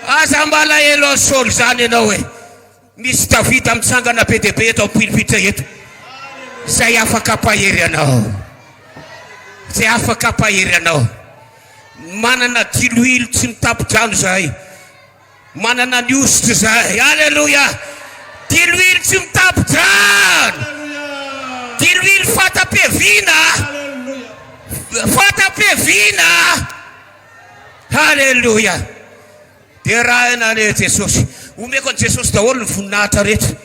Aza malahelo an'i Saoly izany ianao e! Misy Davida mitsangana be dia be eto am-pilipitra eto, izay afaka hampahery anao, izay afaka hampahery anao. Manana diloilo tsy mitapin-drano izahay, manana ny hosotra izahay. Aleloia! Diloilo tsy mitapin-drano, diloilo fata-piaviana, fata-piaviana. Haleloia! Derahina anie Jesosy. Omeko an'i Jesosy daholo ny voninahitra rehetra.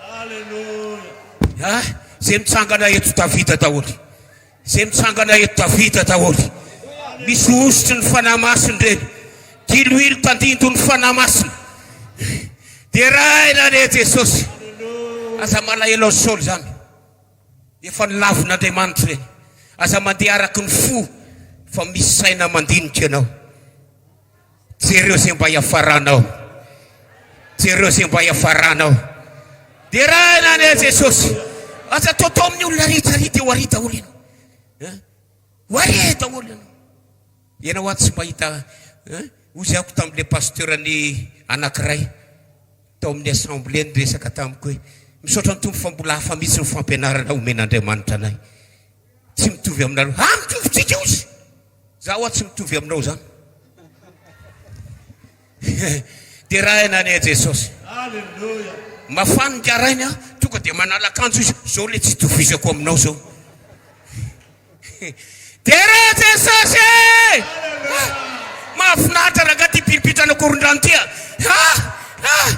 Haleloia! Ah, izay mitsangana eto Davida daholo. Izay mitsangana eto Davida daholo. Misy hosotry ny fanahy masina ireny. Diloilo tandindon'ny fanahy masina. Derahina anie Jesosy. Aza malahelo an'i Saoly izany. Efa nolavin' Andriamanitra ireny. Aza mandeha araka ny fo fa misy saina mandinika anao. Jereo izay mba hiafaranao. Jereo izay mba hiafaranao. Derahina anie Jesosy. Aza atao tao amin'ny olona rehetra ary dia ho ary daholo ianao. Hein? Ho ary daholo ianao. Ianao aho tsy mahita hein? Hoy aho tamin'ilay pasteur-ny anankiray. tao amin'ny assemblée niresaka tamiko hoe misaotra ny Tompo fa mbola hafa mihitsy ny fampianarana omen'Andriamanitra anay. Tsy mitovy aminareo. Ha mitovy tsika ozy! Za hoa tsy mitovy aminao zany. Derahina anie Jesosy. Alléluia. Mafan ny garainy a, tonga dia manala akanjo izy, zao le tsy itovizako aminao zao. Dera Jesosy e! Ah! Mahafinaritra rangah ty piripitra any Ankorondrano ty ah! Ah! Ah!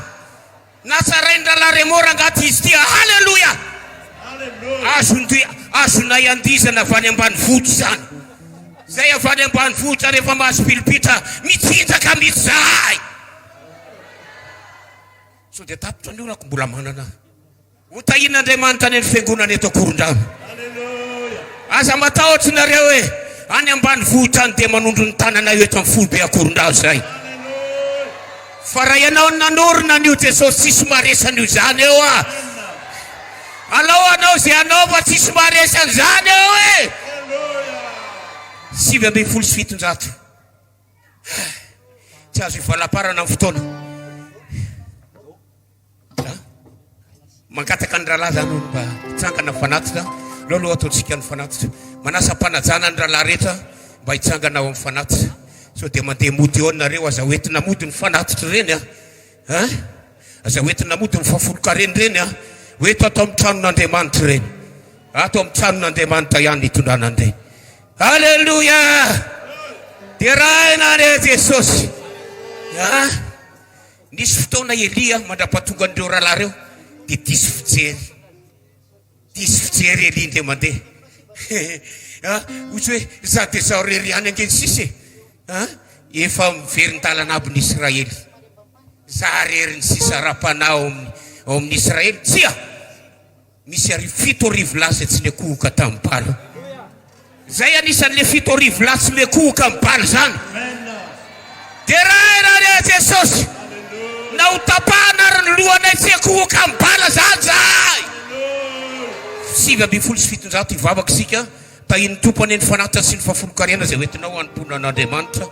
Natsarain'i Rahalahy Remo rangah ty izy ty ah! Haleloia! Azon'ty azonay andizana avy any ambanivohitra izany. Izay avy any ambanivohitra rehefa mahazo piripitra mitsinjaka mihitsy izahay. Sao dia tapitra ny orako mbola manana. Ho tahian'Andriamanitra any amin'ny fiangonana eto Ankorondrano. Aza matahotra nareo e! Any ambanivohitra any dia manondro ny tanana eo eto amin'ny foibe Ankorondrano izay. Fa raha ianao no nanorina an'io Jesosy tsisy maharesy an'io izany eo a! Alao hanao izay hanao fa tsisy maharesy an'izany eo e! Sivy ambin'ny folo sy fitonjato. Tsy azo ivalamparana ny fotoana. Mangataka ny rahalahy izany hoe mba hitsangana fanatitra aloha aloha ataontsika ny fanatitra. Manasa am-panajana ny rahalahy rehetra mba hitsangana ao amin'ny fanatitra. Sao dia mandeha mody eo nareo, aza hoentina mody ny fanatitra ireny an! Ah! Aza hoentina mody ny fahafolon-karena ireny an! Ho eto ato amin'ny tranon'Andriamanitra ireny. Ato amin'ny tranon'Andriamanitra ihany hitondrana an'ireny. Alléluia! Derahina anie Jesosy. Ah! Nisy fotoana i Elia mandra-pahatongan'ireo rahalahy ireo dia diso fijery. Diso fijery i Elia indray mandeha. Ah, ohatry hoe izaho dia izaho irery ihany ange ny sisa e. Ah, efa miverin-dalana aby ny Israely. Izaho irery ny sisa ara-panahy ao amin'ny, ao amin'ny Israely. Tsia! Nisy àry fito arivo lahy izay tsy niakohoka tamin'i Bala. Izay anisan'ilay fito arivo lahy tsy miakohoka amin'i Bala izany. Deraina re Jesosy! Na ho tapahana ary ny lohanay tsy hiakohoka amin'i Bala izany izahay! Sivy ambin'ny folo sy fitonjato hivavaka isika, Tahian'ny Tompo anie ny fanatitra sy ny fahafolonkarena izay hoentinao hanompoana an'Andriamanitra.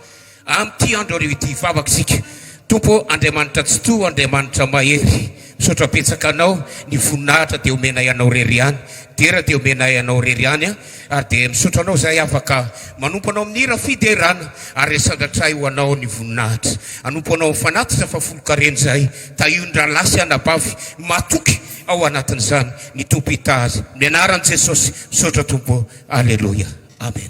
Amin'ity andro hariva ity hivavaka isika, Tompo ô, Andriamanitra Tsitoha, Andriamanitra Mahery, misaotra betsaka Anao, ny voninahitra dia omenay Anao irery ihany, dera dia omenay Anao irery ihany an, ary dia misaotra Anao izahay afaka manompo Anao amin'ny hira fiderana, ary resan-dratray ho Anao ny voninahitra, hanompo Anao amin'ny fanatitra fahafolon-karena izahay, tahio ny rahalahy sy anabavy matoky ao anatin'izany, ny Tompo hitahy azy, amin'ny anaran'i Jesosy, misaotra Tompo ô, Aleloia, Amen.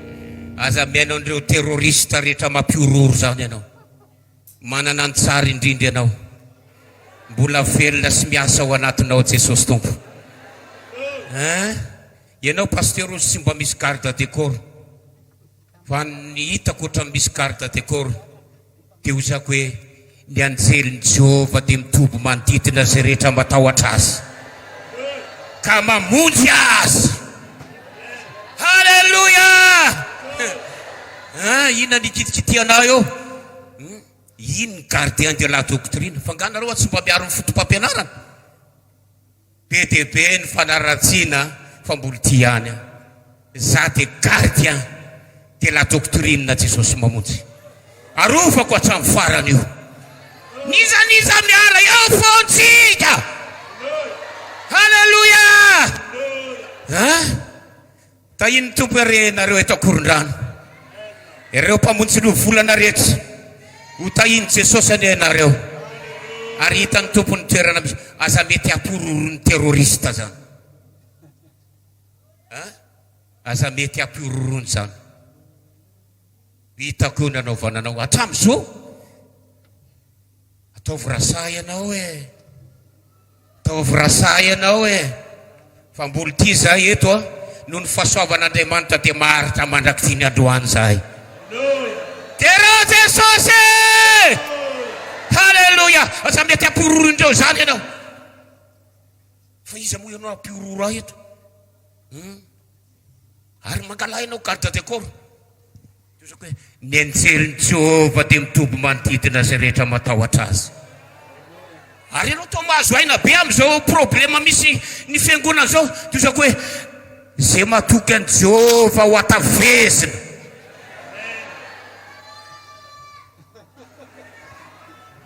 Aza mihaino an'ireo terroriste rehetra mampihorohoro izany ianao. Manana ny tsara indrindra ianao. Mbola velona sy miasa ao anatinao Jesosy Tompo. Hein? Ianao Pasteur ozy tsy mba misy garde de corps. Fa ny hitako ohatran'ny misy garde de corps. Dia hozako hoe, Ny anjelin'i Jehovah dia mitoby manodidina izay rehetra matahotra azy, ka mamonjy azy. Haleloia! An, inona ny kitikitihanao eo? Inn, gardien de la doctrine. F'angaha nareo tsy mba miaro ny foto-pampianarana? Be dia be ny fanaratsiana fa mbola ty ihany aho. Za de gardien de la doctrine Jesosy Mamonjy. Arovako hatramin'ny farany io. N'iza n'iza miala eo fontsika. Haleloia! An! Tahian'ny Tompo anie nareo eto Ankorondrano, ireo mpamonjy ny ovolana rehetra, ho tahian'i Jesosy anie nareo ary hitan'ny Tompo ny toerana misy, aza mety hampihorohoron'ny terroriste zany a, aza mety hampihorohorony zany, hitako io nanaovana anao hatramin'izao, ataovy raha sahy ianao e. Ataovy rasaha ianao e! Fa mbola ty zahay eto a! Noho ny fahasoavan'Andriamanitra dia maharitra mandrak'ity ny androany zahay. Dera Jesosy e! Haleloia! Aza mety hampihororo indreo izany ianao. Fa iza moa ianao hampihororo ahy eto? Hum! Ary mangalahy ianao garde de corps. Ny anjelin'i Jehovah dia mitoby manodidina izay rehetra matahotra azy. Ary ianao toa mahazo aina be amin'izao problema misy ny fiangonana izao. Tozako hoe, Izay matoky an'i Jehovah ho atavezina.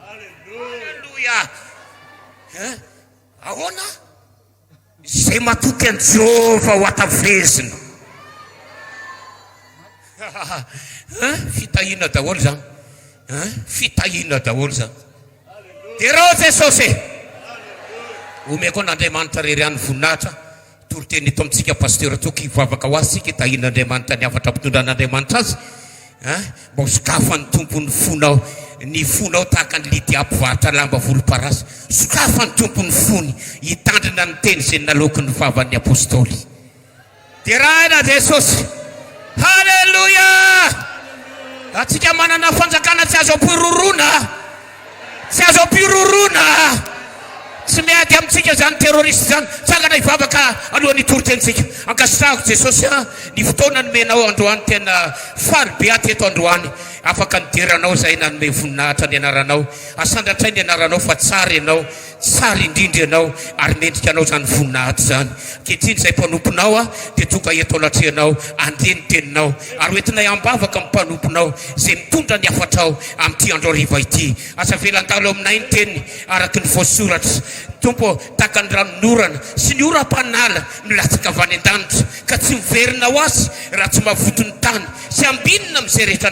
Aleloia! Ahoana? Izay matoky an'i Jehovah ho hatavezina. An, fitahiana daholo izany. An, fitahiana daholo izany. Derao Jesosy e! Omeko an'Andriamanitra irery ihany ny voninahitra. Toriteny eto amintsika Pasteur Toky, hivavaka ho azy isika hitahian'Andriamanitra ny hafatra mitondra an'Andriamanitra azy. An! mba ho sokafan'ny Tompo ny fonao, ny fonao tahaka an'i Lydia mpivarotra lamba volomparasy. Sokafan'ny Tompo ny fony hitandrina ny teny izay naloaky ny vavan'ny Apostoly. Deraina Jesosy. Haleloia! Antsika manana fanjakana tsy azo ampororoana. Tsy azo ampiroroana tsy miady amintsika izany terroriste izany, tsangana hivavaka alohan'ny hitoriteny-tsika. Ankasitrahako Jesosy a, ny fotoana nomenao androany tena faly be aty eto androany, afaka nidera anao izahay nanome voninahitra ny anaranao, asandratray ny anaranao fa tsara ianao, Tsara indrindra ianao ary mendrika anao izany voninahitra izany. Ankehitriny izay mpanomponao aho dia tonga eto anatrehanao handre ny teninao ary ho entinay am-bavaka amin'ny mpanomponao izay mitondra ny hafatrao amin'ity andro hariva ity. Aza avela handalo aminay ny teniny araka ny voasoratra, Tompo ô, tahaka ny ranonorana sy ny oram-panala milatsaka avy any an-danitra ka tsy miverina ho azy raha tsy mavoto ny tany Tsy ambinina amin'izay rehetra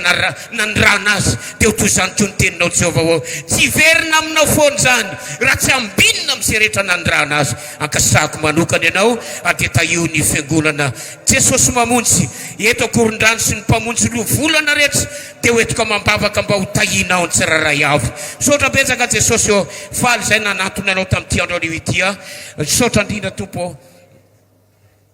nanirahana azy, dia ho toy izany koa ny teninao, Jehovah ô. Tsy hiverina aminao foana izany, raha tsy ambinina amin'izay rehetra nanirahana azy. Ankasitrahako manokana ianao, ary dia tahio ny Fiangonana Jesosy Mamonjy eto Ankorondrano sy ny Mpamonjy Loha Volana rehetra dia ho entiko amam-bavaka mba ho tahianao ny tsirairay avy. Misaotra betsaka Jesosy ô, faly izay nanantona anao tamin'ity andro anio ity aho. Misaotra indrindra Tompo ô.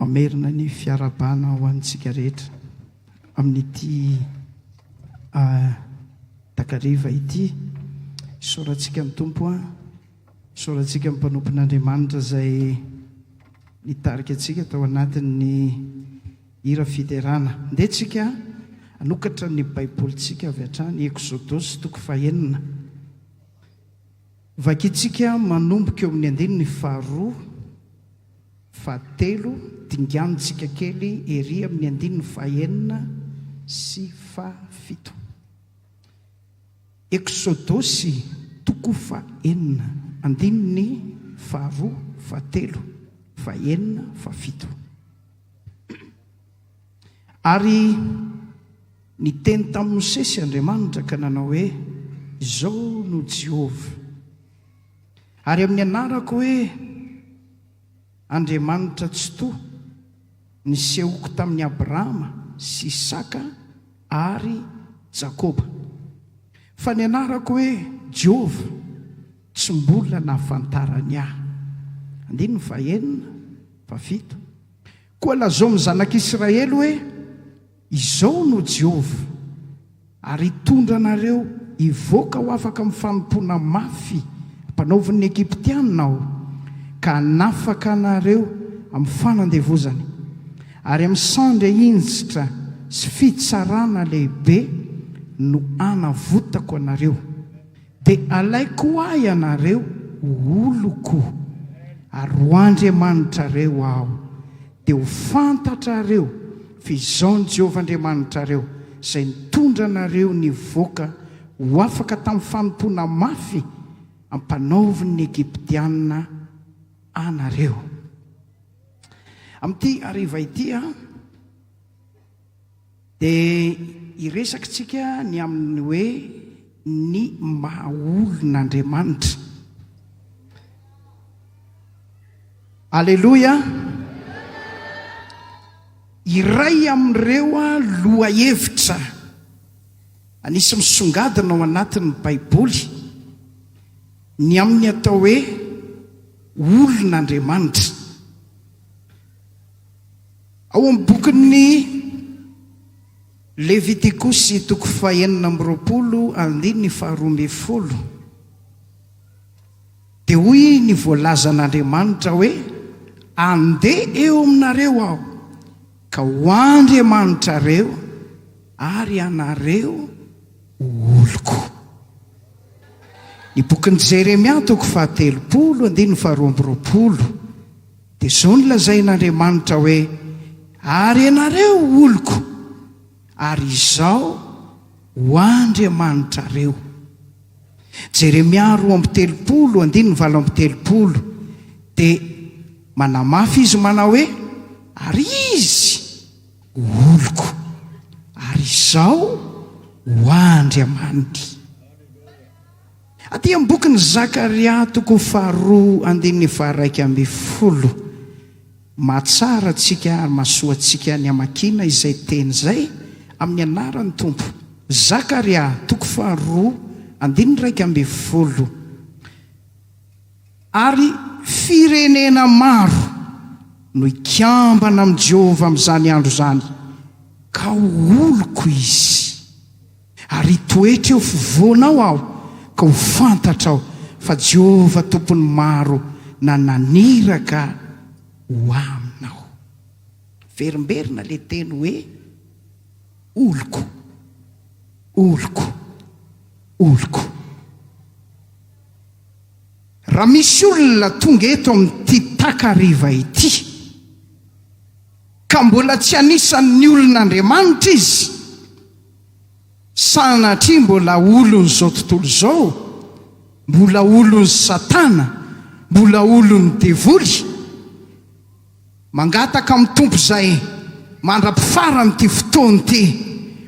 Mamerina ny fiarahabana ho antsika rehetra amin'ity takariva ity. Isaorantsika ny Tompo an! Isaorantsika ny mpanompon'Andriamanitra izay nitarika antsika tao anatin'ny hira fiderana. Andeha tsika hanokatra ny Baibolintsika avy hatrany Eksodosy toko fahenina. Vakintsika manomboka eo amin'ny andininy faharoa. Fahatelo, dinganintsika kely ery amin'ny andininy fahenina sy fahafito. Eksodosy, toko fahenina, andininy faharoa, fahatelo, fahenina, fahafito. Ary niteny tamin'i Mosesy Andriamanitra ka nanao hoe, Izao no Jehovah. Ary amin'ny anarako hoe Andriamanitra Tsitoha, nisehoko tamin'i Abrahama sy Isaka ary Jakoba. Fa ny anarako hoe Jehovah, tsy mbola nahafantarany ahy. Andininy fahenina, fahafito. Koa lazao amin'ny zanak'Israely hoe, Izao no Jehovah, Ary hitondra anareo hivoaka ho afaka amin'ny fanompoana mafy ampanaovin'ny Egyptiana aho, ka hanafaka anareo amin'ny fanandevozana, ary amin'ny sandry hinjitra sy fitsarana lehibe no hanavotako anareo. Dia alaiko ho ahy ianareo ho oloko, ary ho Andriamanitrareo Aho, dia ho fantatrareo fa Izaho ny Jehovah Andriamanitrareo, izay nitondra anareo nivoaka ho afaka tamin'ny fanompoana mafy ampanaovin'ny Egyptiana anareo. Amin'ity hariva ity, Dia hiresaka tsika ny amin'ny hoe ny maha olon' Andriamanitra. Aleloia! Iray amin'ireo lohahevitra anisy misongadina ao anatin'ny Baiboly ny amin'ny atao hoe olon' Andriamanitra. Ao amin'ny bokin'ny Levitikosy, toko fahenina amby roapolo, andininy faharoa ambin'ny folo, dia hoy ny voalazan'Andriamanitra hoe, Andeha eo aminareo Aho, ka ho Andriamanitrareo, ary ianareo ho oloko. Ny bokin'i Jeremia, toko fahatelopolo, andininy faharoa amby roapolo. Dia izao no lazain'Andriamanitra hoe, Ary ianareo oloko, ary Izaho ho Andriamanitrareo. Jeremia roa amby telopolo, andininy valo amby telopolo, dia manamafy izy manao hoe, Ary Izy ho oloko, ary Izaho ho Andriamaniny. Aty amin'ny bokin'i Zakaria toko faharoa andininy faharaika ambin'ny folo, mahatsara antsika ary mahasoa antsika ny hamakiana izay teny izay amin'ny anaran'ny Tompo. Zakaria toko faharoa andininy iraika ambin'ny folo Ary firenena maro no hikambana amin'i Jehovah amin'izany andro izany, ka ho oloko izy. Ary hitoetra eo fovoanao aho ka ho fantatrao fa Jehovah Tompon'ny maro na naniraka ho aminao. Miverimberina ilay teny hoe oloko, oloko, oloko. Raha misy olona tonga eto amin'ity takariva ity ka mbola tsy anisan'ny olon'Andriamanitra izy, Sanatria mbola olon'izao tontolo izao, mbola olon'i Satana, mbola olon'ny devoly. Mangataka amin'ny Tompo izay mandra-pifaran'ity fotoana ity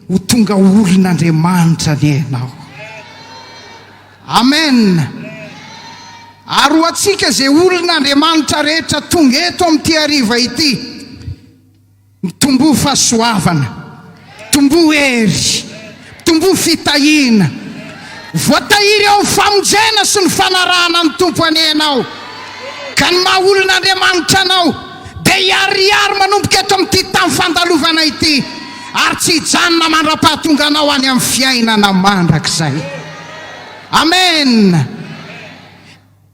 ho tonga olon'Andriamanitra anie ianao. Amen. Ary ho antsika izay olon'Andriamanitra rehetra tonga eto amin'ity hariva ity, Mitomboa fahasoavana, mitomboa hery, mitomboa fitahiana. Voatahiry ao amin'ny famonjena sy ny fanarahana ny Tompo anie ianao, ka ny maha olon'Andriamanitra anao dia hiharihary manomboka eto amin'ity tany fandalovana ity, ary tsy hijanona mandra-pahatonganao any amin'ny fiainana mandrakizay. Amena.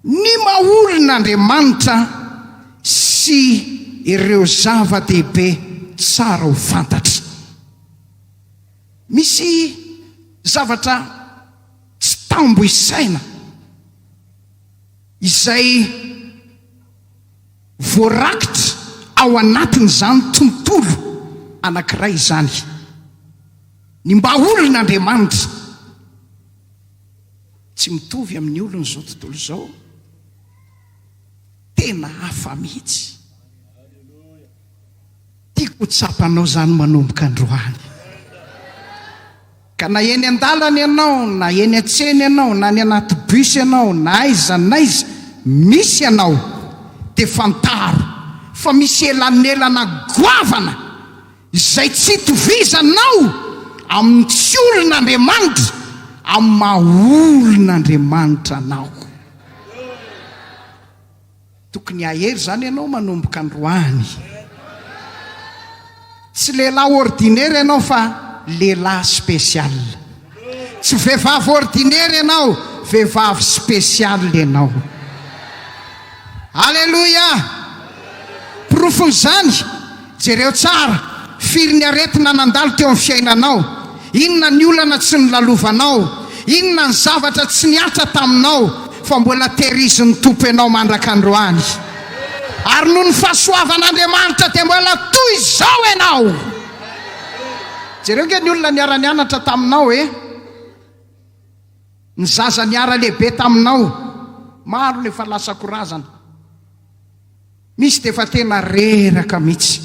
Ny maha-olona Andriamanitra sy ireo zava-dehibe tsara ho fantatry. Misy zavatra tsy tambo isaina izay voarakitra ao anatin'izany tontolo anankiray izany. Ny maha-olona Andriamanitra. Tsy mitovy amin'ny olon'izao tontolo izao. Tena hafa mihitsy. Tiako ho tsapanao izany manomboka androany. Ka na eny an-dalana ianao, na eny an-tsena ianao, na any anaty bus ianao, na aiza n'aiza misy anao, dia fantaro fa misy elanelana goavana. Izay tsy itovizanao amin'ny tsy olona Andriamanitra amin'ny maha olona Andriamanitra anao. Tokony hahery izany ianao manomboka androany. Tsy lehilahy ordinaire ianao fa lehilahy spécial. Tsy vehivavy ordinaire ianao, vehivavy special ianao. Aleloia! Porofon'izany, jereo tsara, firy ny aretina nandalo teo amin'ny fiainanao, inona ny olana tsy nolalovanao, inona ny zavatra tsy nihatra taminao, fa mbola tehirizin'ny Tompo ianao mandrak'androany. Ary noho ny fahasoavan'Andriamanitra dia mbola toy izao ianao. Jereo ange ny olona niara-nianatra taminao e! Ny zaza niara-lehibe taminao, maro no efa lasa ko razana. Misy dia efa tena reraka mihitsy.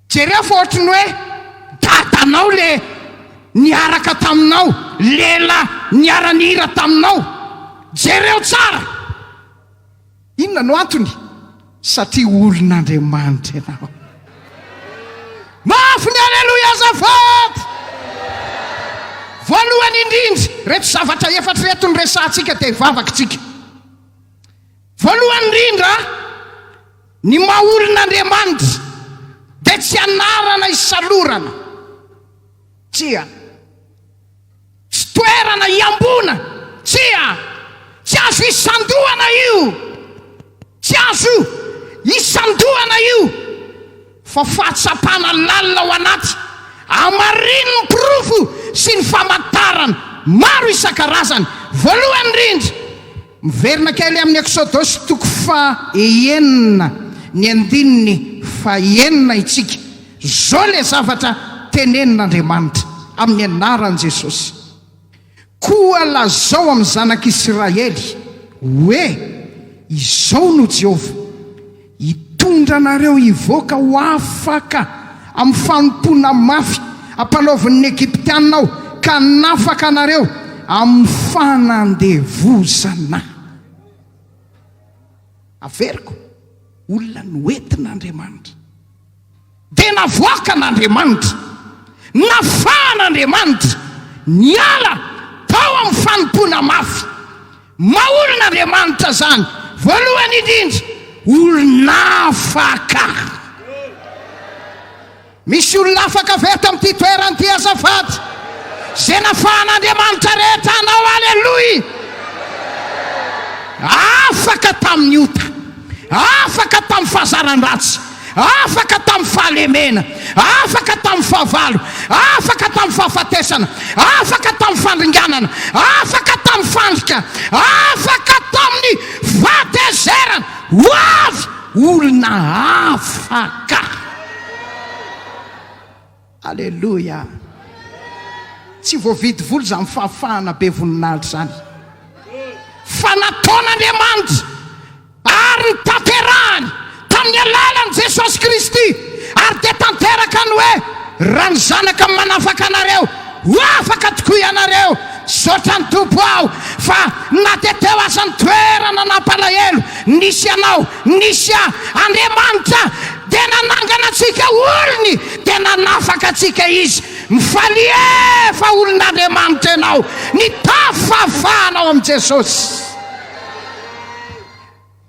Jereo fa ohatry ny hoe dadanao le niaraka taminao, lela niara-nihira taminao. Jereo tsara! Inona no antony? Satria olon'Andriamanitra ianao. Mafy ny Aleloia azafady! Voalohany indrindra, ireto zavatra efatra ireto no resahantsika dia hivavakitsika. Voalohany indrindra, ny maha olon'Andriamanitra dia tsy anarana isalorana. Tsia. Tsy toerana iamboana. Tsia! Tsy azo isandohana io. Tsy azo isandohana io. Fa fahatsapana lalina ao anaty, hamarinin'ny porofo sy ny famantarana maro isan-karazany. Voalohany indrindra. Miverina kely amin'ny Eksodosy toko faha enina ny andininy faha enina isika. Izao ilay zavatra tenenin'Andriamanitra amin'ny anaran'i Jesosy, Koa lazao amin'ny zanak'Israely hoe, Izao no Jehovah, Hitondra anareo hivoaka ho afaka amin'ny fanompoana mafy ampanaovin' ny Egyptiana Aho, ka hanafaka anareo amin'ny fanandevozana. Averiko, olona noentin' Andriamanitra. Dia navoakan' Andriamanitra, nafahan' Andriamanitra, niala tao amin'ny fanompoana mafy. Maha olon' Andriamanitra izany, voalohany indrindra, olon'afaka. Misy olona afaka avy eto amin'ity toerana ity azafady? Izay nafahan' Andriamanitra rehetra anao, aleloia! Afaka tamin'ny ota. Afaka tamin'ny fahazaran-dratsy, afaka tamin'ny fahalemena, afaka tamin'ny fahavalo, afaka tamin'ny fahafatesana, afaka tamin'ny fandringanana, afaka tamin'ny fandrika, afaka tamin'ny fahatezerana. Ho avy olona afaka. Aleloia! Tsy voavidy vola izany fahafahana be voninahitra izany, fa nataon'Andriamanitra ary notanterahiny tamin'ny alalan'i Jesosy Kristy, ary dia tanteraka ny hoe, Raha ny Zanaka no manafaka anareo, ho afaka tokoa ianareo. Misaotra ny Tompo aho fa na dia teo aza ny toerana nampalahelo nisy anao, nisy ahy, Andriamanitra Dia nanangana antsika olony dia nanafaka antsika Izy. Mifalia fa olon'Andriamanitra ianao. Nitafy fahafahana ao amin'i Jesosy.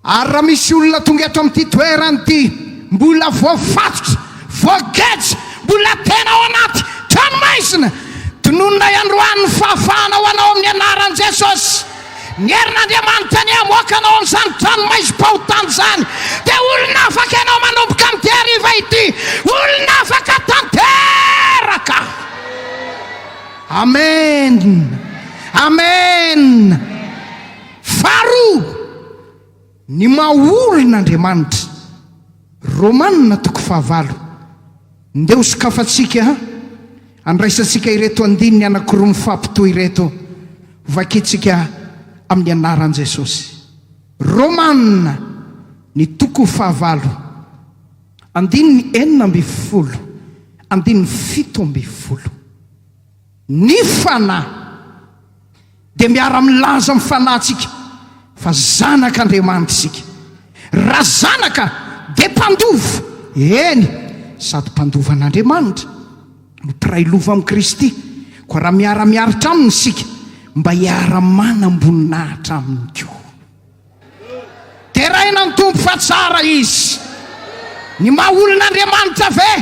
Ary raha misy olona tonga eto amin'ity toerana ity mbola voafatotra, voageja, mbola tena ao anaty tranomaizina, tononina androany ny fahafahana ho anao amin'ny anaran'i Jesosy. Ny herin'Andriamanitra anie hamoaka anao amin'izany tranomaizim-pahotana izany, dia olona afaka ianao manomboka amin'ity hariva ity, olona afaka tanteraka. Amen! Amen! Faharoa. Ny maha olona Andriamanitra. Romana toko fahavalo. Ndeha ho sokafantsika an! Andraisantsika ireto andininy anakiroa mifampitohy ireto, hovakintsika amin'ny anaran'i Jesosy. Romana, ny toko fahavalo, andininy enina ambin'ny folo, andininy fito ambin'ny folo. Ny Fanahy dia miara-milaza amin'ny fanahintsika fa zanak'Andriamanitra isika. Raha zanaka dia mpandova, eny, sady mpandova an'Andriamanitra no mpiray lova amin'i Kristy, koa raha miara-miaritra Aminy isika mba hiara-manam-boninahitra Aminy koa. Deraina ny Tompo fa tsara Izy. Ny maha olon'Andriamanitra ve?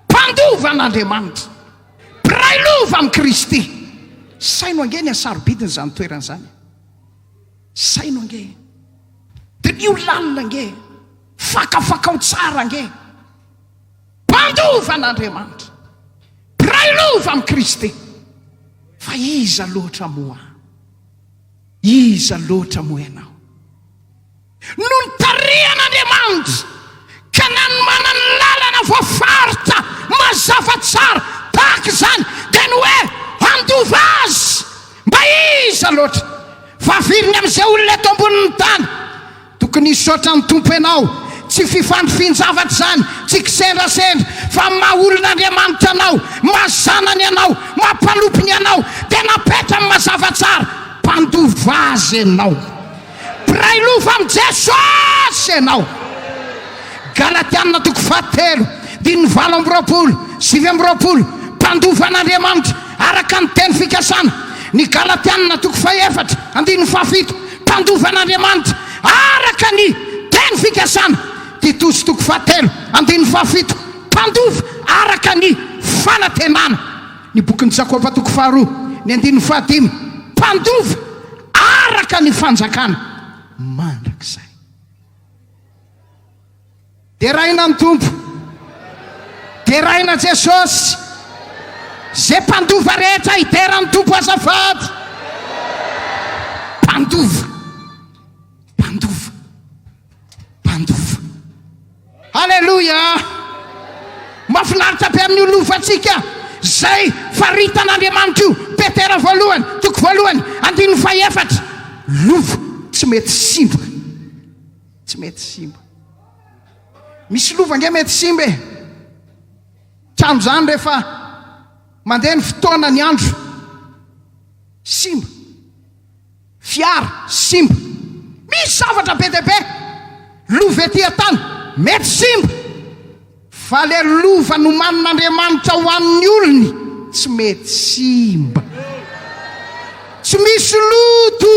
Mpandova an'Andriamanitra. Mpiray lova amin'i Kristy. Saino ange ny hasarobidiny izany toerana izany. Saino ange. Diniho lalina ange. Fakafakao tsara ange. Mpandova an'Andriamanitra. Mpiray lova amin'i Kristy. Fa iza loatra moa? Iza loatra moa ianao? no nitarihan'Andriamanitra ka nanomana ny lalana voafaritra mazava tsara tahaka izany dia ny hoe handova azy mba iza loatra fa viriny amin'izay olona eto ambonin'ny tany tokony hisaotra ny Tompo ianao tsy fifandrifian-javatra izany tsy kisendrasendra fa maha olon'Andriamanitra anao maha zanany anao maha mpanompony anao dia napetrany mazava tsara mpandova azy ianao Mpiray loha amin'i Jesosy ianao. Galatiana toko fahatelo, andininy valo amby roapolo, sivy amby roapolo, Mpandova an'Andriamanitra araka ny teny fikasana Ny Galatiana toko fahefatra, andininy fahafito, Mpandova an'Andriamanitra araka ny teny fikasana Titosy toko fahatelo, andininy fahafito, Mpandova araka ny fanantenana Ny bokin'i Jakoba toko faharoa, ny andininy fahadimy, Mpandova Araka ny fanjakana mandrakizay. Deraina ny Tompo. Deraina Jesosy. Ze mpandova rehetra hidera ny Tompo azafady. Mpandova. Mpandova. mpandofa. Aleloia! Mafinaritra be amin'ny lofantsika izay faritan'Andriamanitra io. Petera voalohany, toko voalohany, andininy fahefatra. Lova tsy mety simba. Tsy mety simba. Misy lova nge mety simba e. Trano izany rehefa mandeha ny fotoana ny andro. Simba. Fiara simba. Misy zavatra be dia be. Lova ety an-tany mety simba. Fa le lova nomanin'Andriamanitra ho an'ny olony tsy mety simba. Tsy misy loto.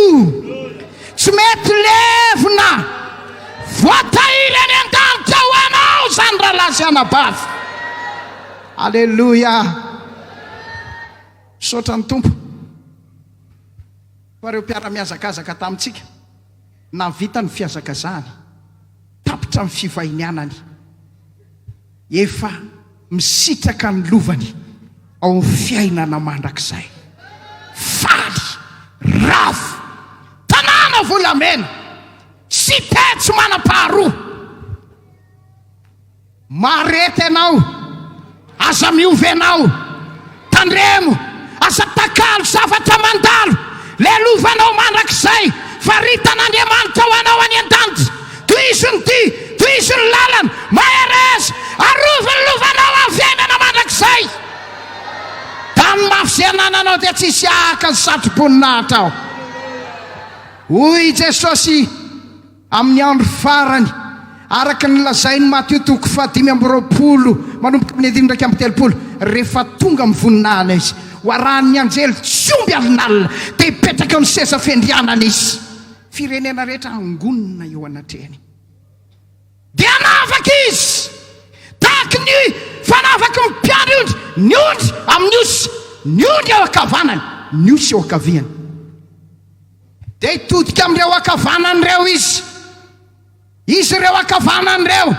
Tsy mety levona. Voatahiry any an-danitra ho anao izany rahalahy sy anabavy. Aleloia. Misaotra ny Tompo. Fa ireo mpiara-mihazakazaka tamintsika, nahavita ny fihazakazahany, tapitra ny fivahinianany, efa misitraka ny lovany ao amin'ny fiainana mandrakizay. Faly, ravo, tanàna volamena, cité tsy manam-paharoa. Marety ianao, aza miova ianao, tandremo, aza takalo zavatra mandalo, lelovanao mandrakizay, faritan'Andriamanitra ho anao any an-danitra, tohizo ny dia, tohizo ny lalana, mahereza, arovy ny lovanao amin'ny fiainana mandrakizay, da ny mafy izay anananao dia tsy hisy hahaka ny satro-boninahitra aho, hoy i Jesosy. Amin'ny andro farany, araka ny lazain'i Matio toko fahadimy amby roapolo manomboka amin'ny andininy iraika amby telopolo, rehefa tonga amin'ny voninahiny Izy, ho arahin'ny anjely tsy omby alinalina, dia hipetraka amin'ny seza fiandrianany Izy. Firenena rehetra hangonina eo anatrehany. Dia hanavaka Izy, tahaka ny fanavaka ny mpiandry ondry ny ondry amin'ny osy, ny ondry eo ankavanany, ny osy eo ankaviany. Dia hitodika amin'ireo ankavanany ireo izy. Izy ireo ankavanany ireo,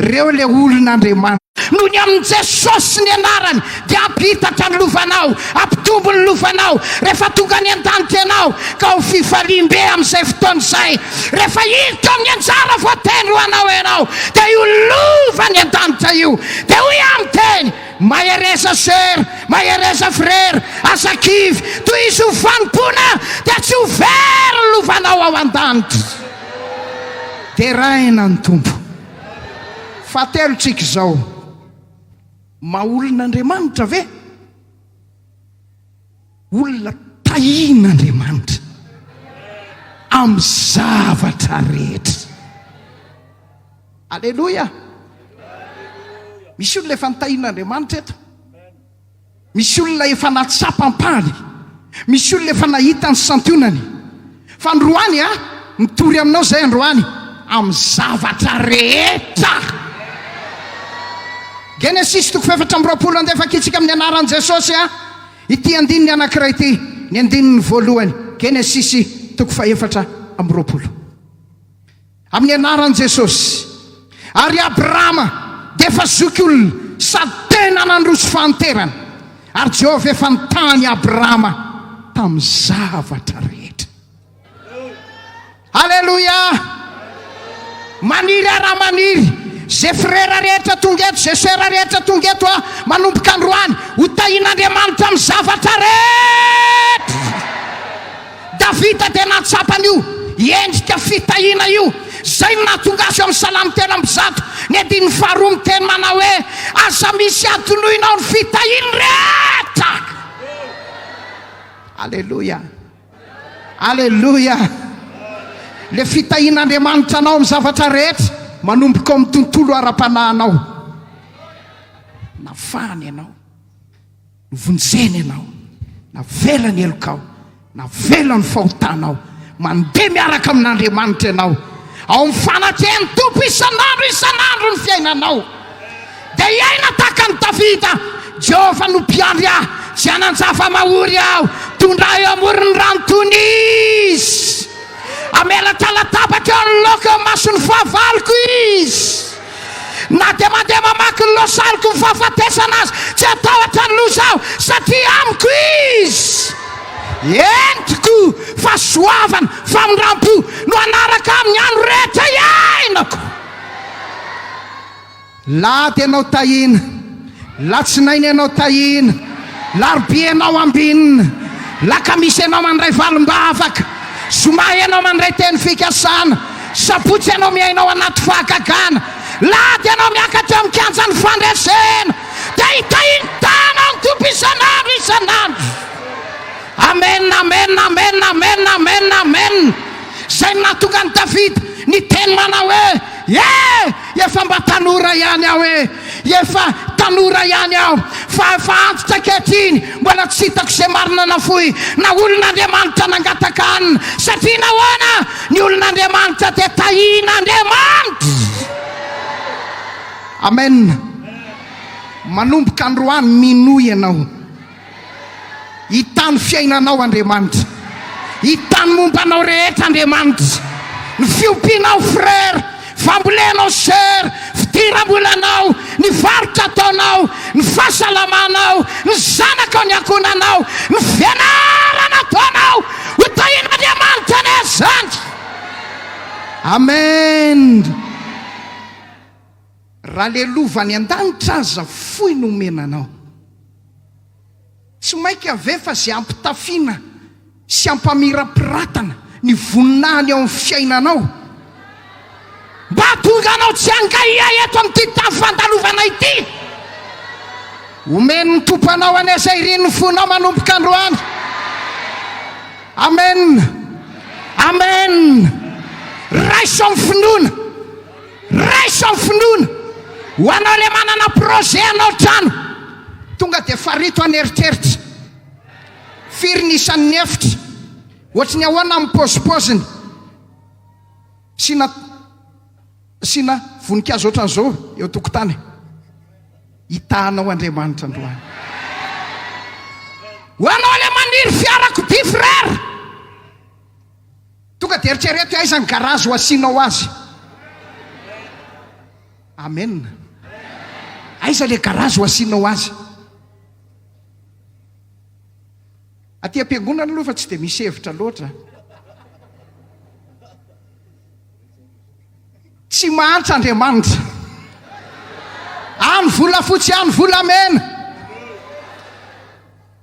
ireo ilay olon'Andriamanitra. Noho ny amin'i Jesosy sy ny anarany dia hampihitatra ny lovanao, hampitombo ny lovanao rehefa tonga any an-danitra ianao, ka ho fifaliam-be amin'izay fotoana izay rehefa hiditra amin'ny anjara voatendry ho anao ianao, dia io lova any an-danitra io dia hoy amin'ny teny. Mahereza ser, mahereza frera, aza kivy, tohizo ho fanompoana dia tsy ho very ny lovanao ao an-danitra. Deraina ny Tompo. Fahatelo tsika izao. Maha olon'Andriamanitra ve? Olona tahian'Andriamanitra amin'ny zavatra rehetra. Aleloia! Misy olona efa notahian'Andriamanitra eto. Misy olona efa nahatsapa ampahany. Misy olona efa nahita ny santionany. Fa androany a, mitory aminao izay androany amin'ny zavatra rehetra. Genesisy toko fahefatra amby roapolo andefakitsika amin'ny anaran'i Jesosy a. Ity andininy anankiray ity, ny andininy voalohany, Genesisy toko fahefatra amby roapolo. Amin'ny anaran'i Jesosy. Ary Abrahama dia efa zokiolona sady tena nandroso fahanterana. Ary Jehovah efa nitaha an'i Abrahama tamin'ny zavatra rehetra. Aleloia! Maniry ara maniry ze frera rehetra tonga eto, ze sera rehetra tonga eto a, manomboka androany, ho tahin'Andriamanitra amin'ny zavatra rehetra. Davida dia nahatsapa an'io endrika fitahiana io. Izay no nahatonga azy eo amin'ny Salamo telo amby zato, ny andininy faharoa miteny manao hoe, Aza misy adinoinao ny fitahiany rehetra. Aleloia! Aleloia! Ilay fitahian'Andriamanitra anao amin'ny zavatra rehetra, manomboka ao amin'ny tontolo ara-panahinao. Nafahany ianao, novonjeny ianao, navela ny helokao, navela ny fahotanao. Mandeha miaraka amin'Andriamanitra ianao, ao amin'ny fanakehan'ny Tompo isan'andro isan'andro ny fiainanao. Dia hiaina tahaka an'i Davida, Jehovah no mpiandry ahy, tsy hanan-java-mahory aho, tondra ahy eo amoron'ny rano tony Izy, hamelatra latabatra eo anoloako eo imason'ny fahavaloko Izy. Na dia mandeha mamaky ny lohasaloko ny fahafatesana aza, tsy hatahotra ny loza aho, satria amiko Izy. Entiko fahasoavana, famindram-po no hanaraka ahy amin'ny andro rehetra iainako. Lahady ianao Tahiana, latsinainy ianao Tahiana, larobia ianao Ambinina, lakamisy ianao mandray valim-bavaka, zoma ianao mandray teny fikasana, sabotsy ianao miaina ao anaty fahagagana, lahady ianao miakatra eo amin'ny kianjan'ny fandresena, dia i Tahiana tahana ny Tompo isan'andro isan'andro. Amen, amen, amen, amen, amen, amen. Izay no nahatonga an'i Davida niteny manao hoe. Yeah! Efa mba tanora ihany aho eh! Efa tanora ihany aho fa efa antitra ankehitriny mbola tsy hitako izay marina nafoy na olon'Andriamanitra nangataka hanina satria nahoana? Ny olon'Andriamanitra dia tahin'Andriamanitra! Amen! Manomboka androany minoa ianao. Hita ny fiainanao Andriamanitra. Hita ny momba anao rehetra Andriamanitra. Ny fiompianao frère, fambolenao sœur, fidiram-bolanao, ny varotra ataonao, ny fahasalamanao, ny zanakao, ny ankohonanao, ny fianarana ataonao. Ho tahin'Andriamanitra anie izany. Amen. Raha le lova any an-danitra aza fohy no omena anao. Tsy maika ve fa ze ampitafiana sy ampamirapiratana ny voninahiny ao amin'ny fiainanao mba hahatonga anao tsy hangaia eto amin'ity tavy fandalovana ity? Omen'ny Tompo anao anie izay irin'ny fonao manomboka androany. Amen. Amen. Raiso amin'ny finoana. Raiso finoana ho anao le manana projet hanao trano tonga de farito an eritreritra firy ny isan'ny efitra ohatry ny ahoana ny pozipoziny asiana asiana voninkazo ohatran'izao eo tokotany hitahanao Andriamanitra androany ho anao le maniry fiarakodia frère Tonga dia eritrereto aiza ny garazy ho asianao azy. Amen. Aiza ilay garazy ho asianao azy. Aty am-piangonana aloha fa tsy dia misy hevitra loatra. Tsy mahantra Andriamanitra. Any volafotsy any volamena.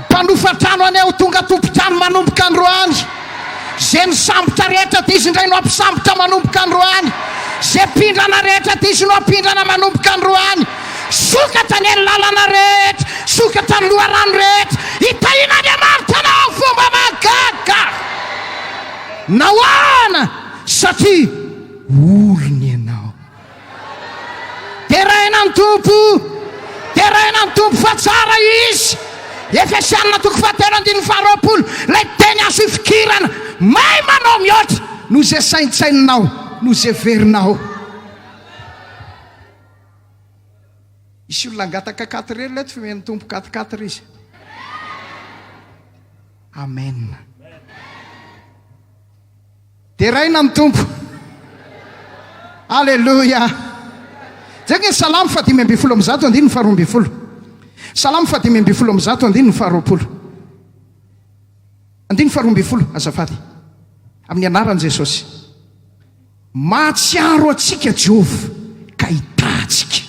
Mpanofa trano anie ho tonga tompon-trano manomboka androany. Ze nisambotra rehetra diso indray no hampisambotra manomboka androany. Ze mpindrana rehetra diso no hampindrana manomboka androany. Sokatra anie ny lalana rehetra, sokatra ny loharano rehetra. Hitahian'Andriamanitra anao fomba mahagaga. Nahoana? Satria olony ianao. Deraina ny Tompo! Deraina ny Tompo fa tsara Izy! Efesiana toko fahatelo andininy faharoapolo, ilay teny azo ifikirana, Mahay manao mihoatra noho izay saintsaininao, noho izay heverinao. Hisy olona hangataka quatre heures ilay fihomen'ny Tompo quatre quatre izy. Amen. Deraina amin'ny Tompo. Aleloia. Jereo ny Salamo fahadimy ambin'ny folo amby zato andininy faharoa ambin'ny folo. Salamo fahadimy ambin'ny folo amby zato andininy faharoapolo. Andininy faharoa ambin'ny folo, azafady. Amin'ny anaran'i Jesosy. Mahatsiaro antsika Jehovah ka hitahy antsika.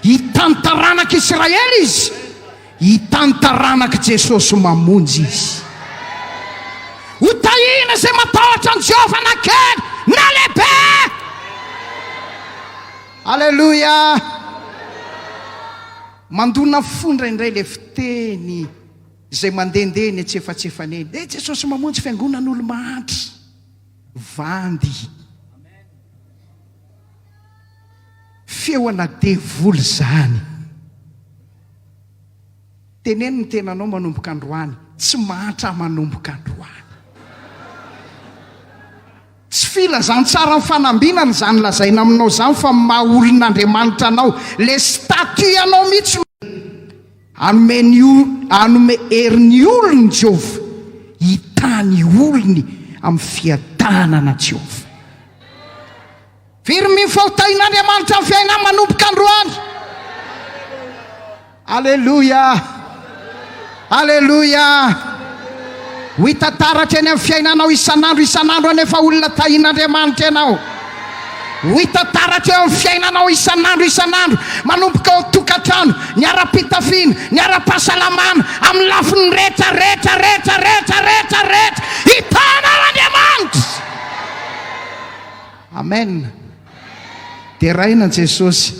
Hitan'ny taranak'i Israely izy, hitan'ny taranak'i Jesosy mamonjy izy. Hotahina izay matahotra an'i Jehovah na kely na lehibe. Aleloia! Mandona fo indraindray ilay fiteny izay mandehandeha eny antsefatsefana eny, He Jesosy mamonjy fiangonan'olo mahantra, vandy. Feo ana devoly izany. Teneno ny tenanao manomboka androany, tsy mahantra manomboka androany. Tsy filazantsara mifanambinana izany lazaina aminao izany fa ny maha olon'Andriamanitra anao, ilay statut anao mihitsy no hanome ny hanome hery ny olony Jehovah, hitaha ny olony amin'ny fiadanana Jehovah. Very mino fa ho tahin'Andriamanitra ny fiainanao manomboka androany. Aleloia! Aleloia! Ho hita taratra eny amin'ny fiainanao isan'andro isan'andro anie fa olona tahin'Andriamanitra ianao. Ho hita taratra eo amin'ny fiainanao isan'andro isan'andro manomboka ao an-tokantrano, ny ara-pitafiana, ny ara-pahasalamana, amin'ny lafiny rehetra rehetra rehetra rehetra rehetra rehetra. Hitanao Andriamanitra! Amen! Deraina an'i Jesosy!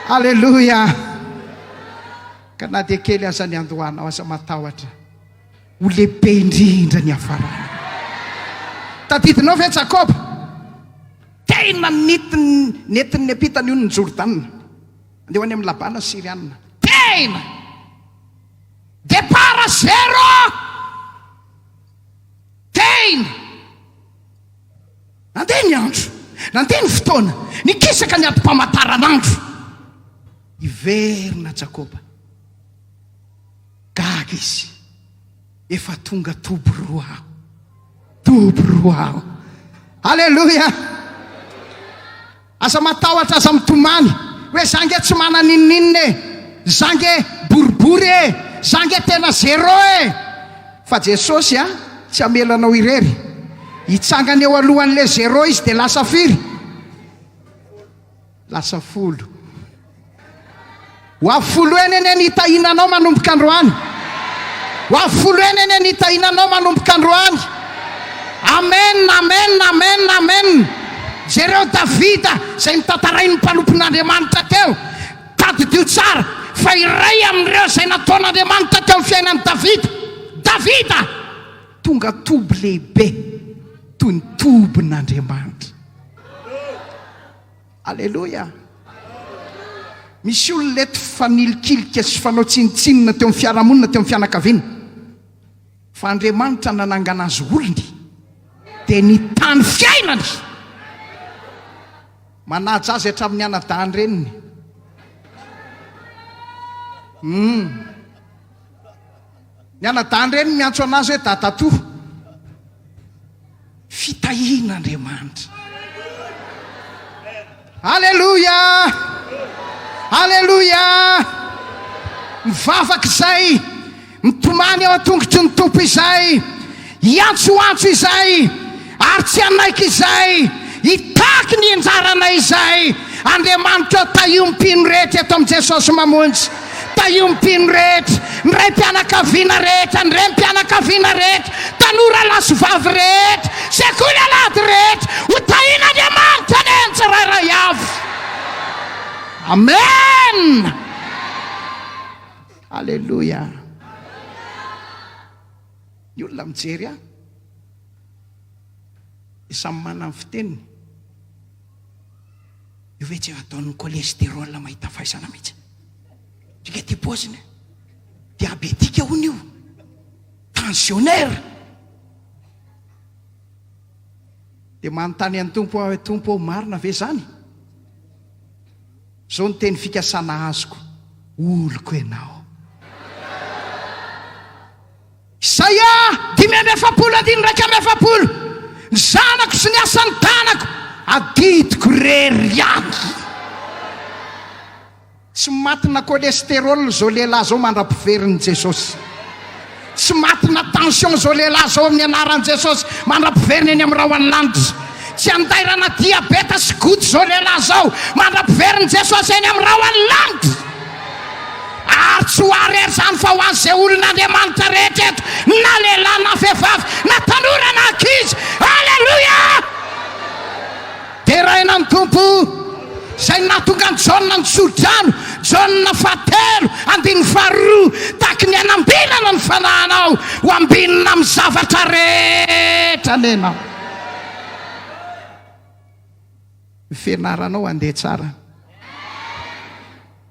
Aleloia! Ka na dia kely aza ny andohanao, aza matahotra. Ho lehibe indrindra ny hafarana. Tadidinao ve Jakoba? Tena nitiny, nentin'ny Nepita ny onin'i Jordana. Andeha ho any amin'i Labana Syriana. Tena! Départ à zéro! Tena! Nandeha ny andro, nandeha ny fotoana, nikisaka ny adim-pamataranandro. Hiverina Jakoba. Gaga izy, efa tonga toby roa aho. Toby roa aho. Aleloia! Aza matahotra aza mitomany hoe za nge tsy mana ninoninona e! za nge boribory e! za nge tena zero e! fa Jesosy a tsy hamela anao irery hitsangana eo alohanle zero izy de lasa firy? lasa folo. Ho avy folo heny anie ny hitahiana anao manomboka androany. Ho avy folo heny anie ny hitahiana anao manomboka androany. Amen, amen, amen, amen. Jereo Davida izay notantarain'ny mpanompon'Andriamanitra teo. Tadidio tsara fa iray amin'ireo izay nataon'Andriamanitra teo amin'ny fiainan'i Davida. Davida! Tonga toby lehibe toy ny tobin'Andriamanitra. Aleloia! Misy olona eto fa nilikilika sy fanao tsinontsinona teo amin'ny fiarahamonina, teo amin'ny fianakaviana. Fa Andriamanitra nanangana azy ho olony, dia nitany fiainany. Manaja azy hatramin'ny anadahin-dreniny. Umm. Ny anadahy indray miantso anazy hoe dadatoa. Fitahian' Andriamanitra. Aleloia! Aleloia! Mivavaka izay, mitomany eo an-tongotry ny Tompo izay. Hiantsoantso izay ary tsy hanaiky izay hitaky ny anjaranay izay Andriamanitra ô Tahio ny mpino rehetra eto amin'i Jesosy Mamonjy Tahio ny mpino rehetra Ny raim-pianakaviana rehetra Ny renim-pianakaviana rehetra Tanora lahy sy vavy rehetra Sekoly alahady rehetra Ho tahin'Andriamanitra anie ny tsirairay avy Amen Aleloia. Ny olona mijery ahy dia samy manana ny fiteniny. Io ve tsy ataon'ny cholestérol mahita faisana mihitsy? Ndrika ity paoziny. Diabetika hono io. Tensionnaire. Dia manontany an'ny Tompo aho hoe Tompo ô marina ve izany? Zao ny teny fikasana azoko, oloko ianao. Isaia dimy amby efapolo andininy iraika amby efapolo, Ny zanako sy ny asan'ny tanako, adidiko irery ihany. Tsy matina cholestérol izao lehilahy izao mandra-piverin'i Jesosy. Tsy matina tension zao lehilahy zao amin'ny anaran'i Jesosy mandra-piverina eny amin'ny rahon'ny lanitra. Tsy andairana diabeta sy goty zao lehilahy zao mandra-piverin'i Jesosy eny amin'ny rahon'ny lanitra. Ary tsy ho ahy rery zany fa ho an'izay olon'Andriamanitra rehetra eto na lehilahy na vehivavy na tanora na ankizy. Aleloia! Deraina amin'ny Tompo, izay nahatonga an'i Jaona nisoa-drano, Jaona fahatelo, andininy faharoa, tahaky ny hanambinana ny fanahinao ho ambinina amin'ny zavatra rehetra nenao. Ny fianaranao handeha tsara.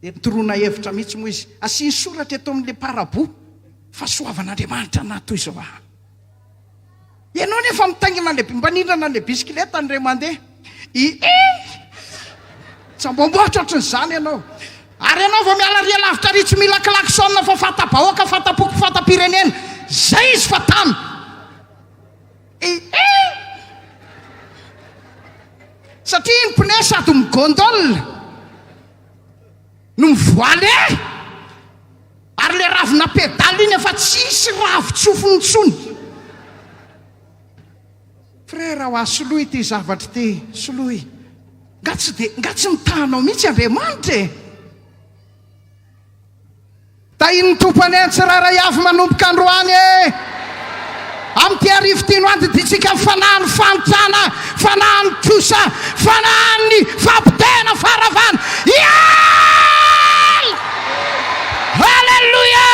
Dia toroana hevitra mihitsy moa izy. Asiany soratra eto amin'ilay parabout fa soavan'Andriamanitra na toy izao aho. Ianao nefa mitaingina le mba nindrana le bisikileta ny ray mandeha. I Tsambombohitra ohatry ny zany ianao. Ary ianao vao miala ry alavitra ary tsy mila klaxon fa fanta-bahoaka, fanta-poko, fanta-pirenena. Zay izy fa tamy. Satria ny pneu sady mi-gondole no mivoale ary le ravina pedale iny efa tsisy ravin-tsofiny intsony. Frera hoa soloy ity zavatra ity soloy nga tsy de nga tsy mitaha anao mihitsy Andriamanitra e! Tahin'ny Tompo anie ny tsirairay avy manomboka androany e! Amin'ity hariva ity no handidintsika ny fanahin'ny fahantrana, fanahin'ny trosa, fanahin'ny fahapotehana, faharavana. Hiala! Haleloia!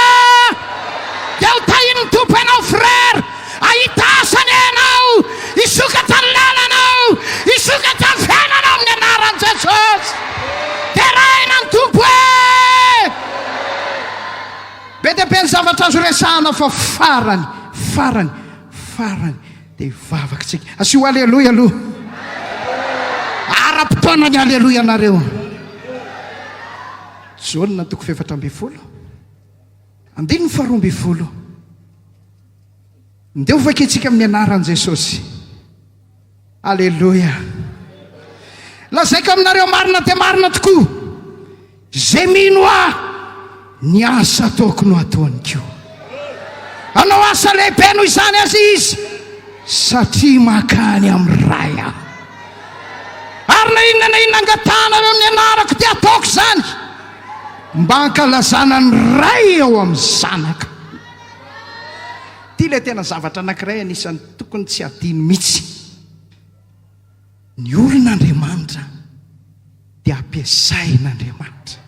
Dia ho tahin'ny Tompo ianao frère, Hahita asa anie ianao, hisokatra ny lalanao, hisokatra ny fiainanao amin'ny anaran'i Jesosy. Deraina ny Tompo e! Be dia be ny zavatra azo resahana fa farany, farany, farany dia hivavak'tsika. Asio Aleloia aloha. Ara-potoana ny Aleloia nareo. Jaona toko fefatra ambin'ny folo, andininy faharoa ambin'ny folo. Ndeha ho vaky antsika amin'ny anaran'i Jesosy. Aleloia. Lazaiko aminareo marina dia marina tokoa. Izay mino ahy, ny asa ataoko no ataony koa. Anao asa lehibe noho izany aza izy satria makany amin'ny ray aho. Ary na inona na inona angatahanareo amin'ny anarako dia ataoko izany mba hankalazana ny ray eo amin'ny zanaka. Ity ilay tena zavatra anankiray anisan'ny tokony tsy hadino mihitsy. Ny olona Andriamanitra dia ampiasain'Andriamanitra.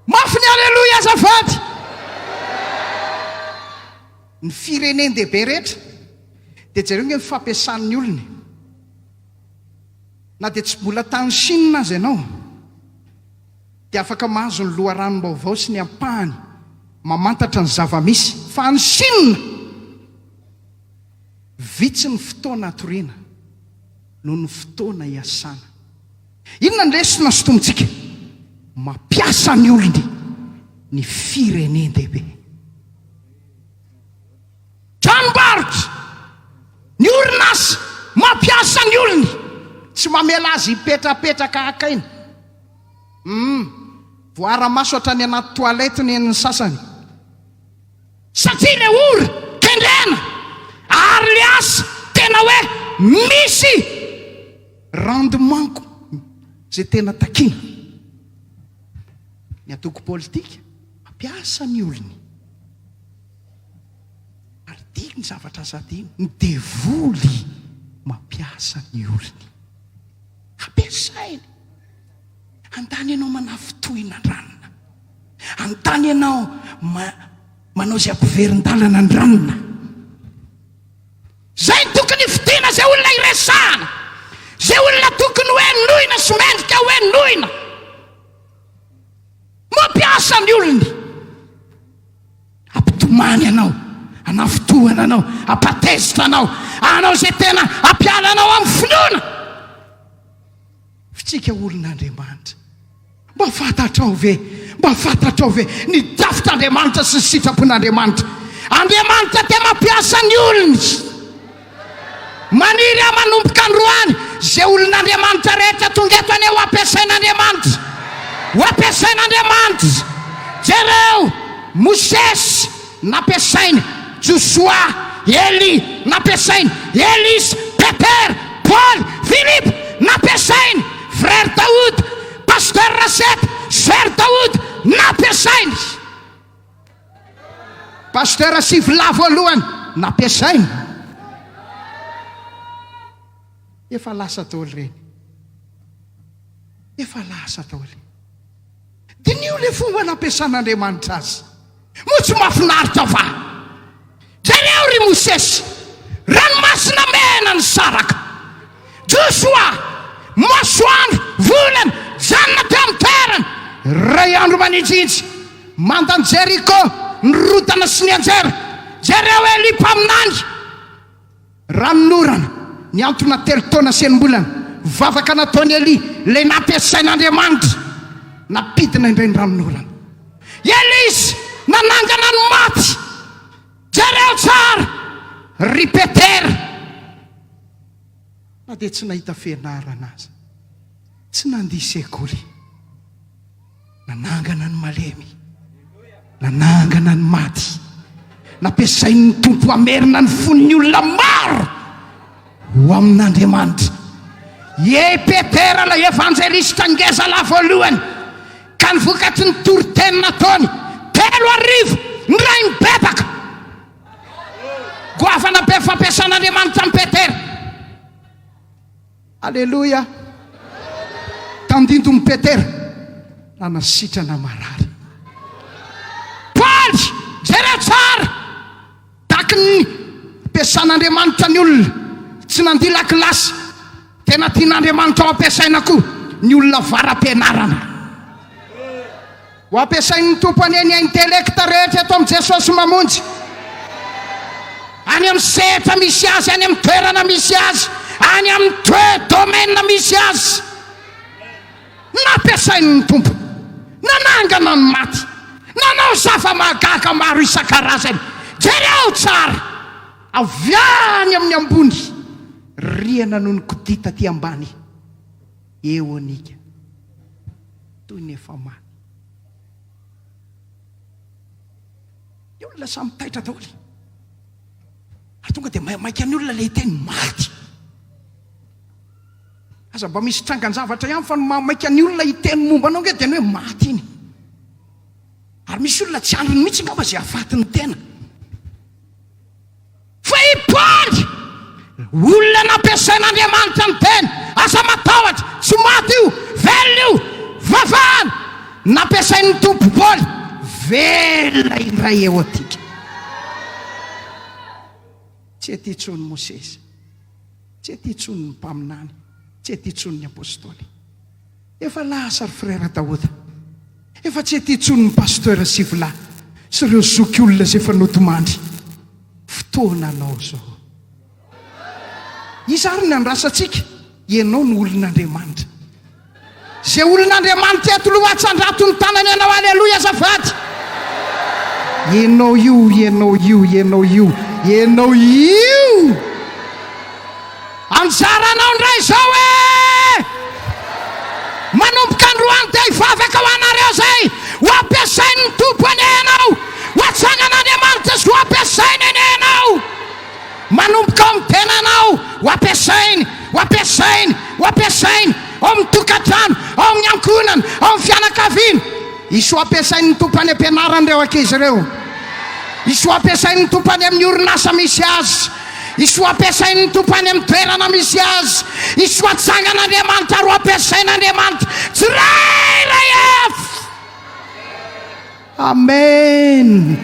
Mafy ny Aleloia azafady! Ny firenen-dehibe rehetra dia jereo nge ny fampiasan'ny olona e. Na dia tsy mbola tany Chine aza ianao. dia afaka mahazo ny loharanom-baovao sy ny ampahany mamantatra ny zava-misy, fa any Chine, vitsy ny fotoana hatoriana noho ny fotoana hiasana. Inona ny lesona sintomintsika? Mampiasa ny olony ny firenen-dehibe. Tranombarotra, ny orinasa, mampiasa ny olony, tsy mamela azy hipetrapetraka haka aina. Humm! Voara maso hatrany anaty toilette nen'ny sasany. Satria le ora kendrena ary le asa tena hoe misy rendement-ko ze tena takiana. Ny antoko politika mampiasa ny olony ary dia ny zavatra aza adino, ny devoly mampiasa ny olony. Ampiasainy. Handany ianao manafitohina an-dranona. Handany ianao ma, manao izay ampiverin-dalana an-dranona. Izay no tokony hifidiana izay olona hiresahana. Izay olona tokony hoe noina sy mendrika hoe noina. Mampiasa ny olony. Hampitomany anao, hanafintohina anao, hampatezitra anao, hanao izay tena hampiala anao amin'ny finoana. F'tsika olon'Andriamanitra, mba fantatrao ve, mba fantatrao ve ny drafitr'Andriamanitra sy ny sitrapon'Andriamanitra? Andriamanitra te mampiasa ny olony. Maniry aho manomboka androany izay olon'Andriamanitra rehetra tonga eto anie ho ampiasain'Andriamanitra. Ho ampiasain'Andriamanitra. Jereo, Mosesy, nampiasainy, Josoa, Elia, nampiasainy, Elisa, Petera, Paoly, Filipo, nampiasainy, Frère Daoud, Pasteur Rasette, Soeur Daoud, nampiasainy. Pasitera Sivilahy voalohany nampiasainy. Efa lasa daholo ireny. Efa lasa daholo. Diniho ilay fomba nampiasan'Andriamanitra azy. Moa tsy mahafinaritra va? Jereo, ry Mosesy, ranomasina mena nisaraka, Josoa, masoandro, volana, janona teo amin'ny toerany, iray andro maninjinjy, manda an'i Jeriko, ny rotana sy ny anjera, jereo, Elia mpaminany. Ranonorana, nihantona telo taona sy enim-bolana, vavaka nataon'i Elia, ilay nampiasain'Andriamanitra nampidina indray ny ranonorana. Elisa nanangana ny maty. Jereo tsara, ry Petera, na dia tsy nahita fianarana aza, tsy nandia sekoly. Nanangana ny malemy. Nanangana ny maty. Nampiasain'ny Tompo hamerina ny fon'ny olona maro ho amin'Andriamanitra. Iey Petera ilay evanjelista ngeza lahy voalohany ka ny vokatry ny toriteny nataony telo arivo ny ray mibebaka. Goavana be fampiasan'Andriamanitra an'i Petera. Aleloia! Tandindon'i Petera raha nasitrana marary. Faly! Jereo tsara! Takin'ny ampiasan'Andriamanitra ny olona. Tsy nandia lakilasy. Tena tian'Andriamanitra ho ampiasaina koa ny olona avara-pianarana. Ho ampiasain' ny Tompo anie ny intelekta rehetra eto amin' i Jesosy Mamonjy, any amin' ny sehatra misy Azy, any amin' ny toerana misy Azy, any amin' ny toe domaine misy Azy. Nampiasain' ny Tompo, nanangana ny maty, nanao zava-mahagaga maro isan-karazany. Jereo tsara, avy any amin' ny ambony, rihana no nikodita aty ambany. Eonika, toy ny efa mamy. Ny olona samy taitra daholo. Ary tonga dia maimaika ny olona ilay hiteny maty. Aza mba misy trangan-javatra ihany fa ny mahamaika ny olona hiteny momba anao nge dia ny hoe maty iny. Ary misy olona tsy andriny mihitsy ngamba izay hafaty ny tena. Fa i Paoly, olona nampiasain'Andriamanitra ny teny, aza matahotra, tsy maty io, velona io, vavahana, nampiasain'ny Tompo Paoly, velona indray eo antika. Tsy ety intsony i Mosesy, tsy ety intsony ny mpaminany, tsy ety intsony ny apostoly. Efa lasa ry frère Daouda. Efa tsy ety intsony ny pasteur Sivola sy ireo zoky olona izay efa nodimandry. Fotoana anao izao. Iza ary ny andrasantsika? Ianao no olon'Andriamanitra. Izay olon'Andriamanitra eto aloha atsandrato ny tanany anao aleloia azafady. Ianao io, ianao io, ianao io, ianao io. Anjaranao ndray izao e! Manomboka androany dia hivavaka ho anareo izay ho ampiasain'ny Tompo anie ianao, ho atsangan'Andriamanitra sy ho ampiasainy anie ianao. Manomboka ao amin'ny tenanao, ho ampiasainy, ho ampiasainy, ho ampiasainy, ao amin'ny tokantrano, ao amin'ny ankohonana, ao amin'ny fianakaviana. Hisy ho ampiasain'ny Tompo any am-pianarana ireo ankizy ireo. Hisy ho ampiasain'ny Tompo any amin'ny orinasa misy azy. I soa ampiasain' ny Tompo any amin' ny toerana misy azy. I soa tsangan' Andriamanitra roa ampiasain' Andriamanitra tsirairay avy. Amen!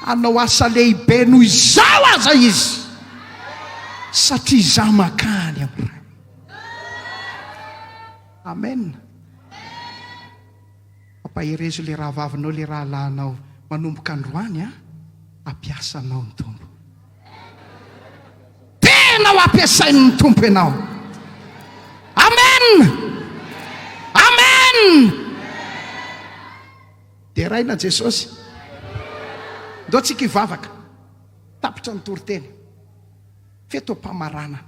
Hanao asa lehibe noho izao aza Izy, satria izaho mankany amin' ny Ray. Amen! Ampaherezo le rahavavinao le rahalahinao manomboka androany a! Hampiasa anao ny Tompo. Tena ho ampiasain'ny Tompo ianao. Amen! Amen! Deraina Jesosy. Ndao tsika hivavaka. Tapitra ny toriteny. Feto am-pamaranana.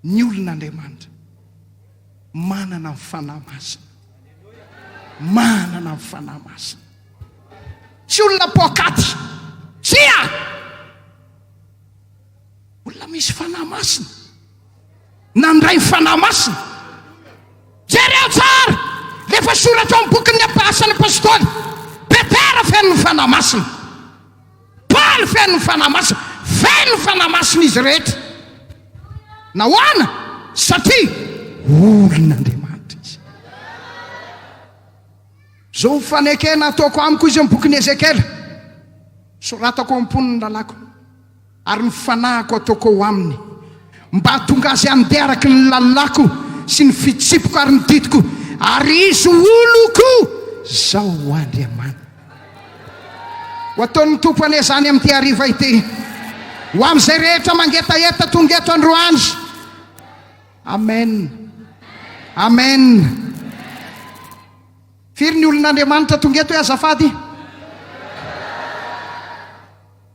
Ny olona Andriamanitra. Manana ny Fanahy Masina. Manana ny Fanahy Masina. Tsy olona poakaty. Tsia! Olona misy Fanahy Masina. Nandray ny Fanahy Masina. Jereo tsara! Lefa soratra amin'ny bokin'ny Asan'ny Apostoly. Petera feno ny Fanahy Masina. Paly feno ny Fanahy Masina. Feno ny Fanahy Masina izy rehetra. Nahoana? Satria olon'Andriamanitra izy. Izao fanekena ataoko amiko izy amin'ny bokin'i Ezekiela, Soratako ao am-pony ny lalàko, ary ny fanahiko ataoko ao aminy, mba hahatonga azy handeha araka ny lalàko sy ny fitsipiko ary ny didiko, ary izy ho oloko, Izaho ho Andriamaniny. Ho ataon'ny Tompo anie izany amin'ity hariva ity, ho amin'izay rehetra mangetaheta tonga eto androany. Amen. Amen. Firy ny olon'Andriamanitra tonga eto hoe azafady?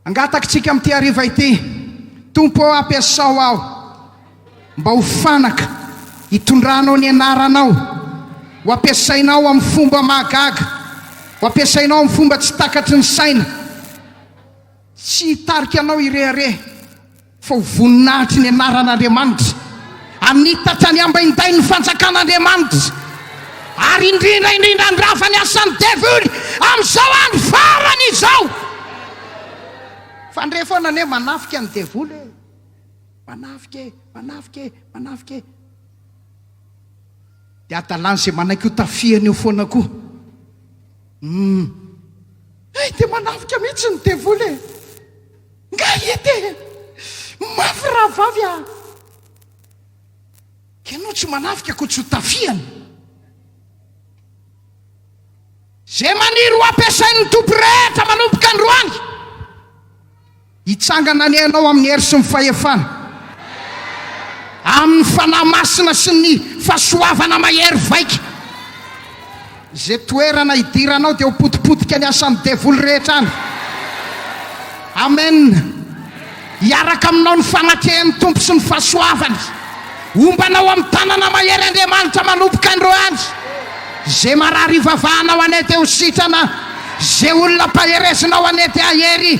Angatakintsika amin'ity hariva ity, Tompo ô, ampiasao aho mba ho fanaka hitondranao ny Anaranao, ho ampiasainao amin'ny fomba mahagaga, ho ampiasainao amin'ny fomba tsy takatry ny saina, tsy hitarika anao hirehareha. Fa ho voninahitry ny anaran'Andriamanitra, amin'ny tatrany ambaindain' ny fanjakan' Andriamanitra, ary indrindra indrindra handrava ny asan'ny devoly amin'izao andro farany izao. Fandre foana anie manafika ny devoly e! Manafika e! Manafika e! Manafika e! Dia hadalan'izay manaiky ho tafihany eo foana koa. Humm. Hay dia manafika mihitsy ny devoly e! Nga ie te mafy rahavavy ah. Ianao tsy manafika koa tsy ho tafiany. Ze maniry ho ampiasain'ny Tompo rehetra manomboka androany hitsangana ny ainao amin'ny hery sy ny fahefana, amin'ny Fanahy Masina sy ny fahasoavana mahery vaika. Izay toerana hidiranao dia ho potipotika ny asan'ny devoly rehetra any. Amen. Hiaraka aminao ny fanakehan'ny Tompo sy ny fahasoavany. Homba anao amin'ny tanana mahery Andriamanitra manomboka andro any. Izay marary ivavahanao hanety ho sitrana. Izay olona mpaherezinao hanety hahery.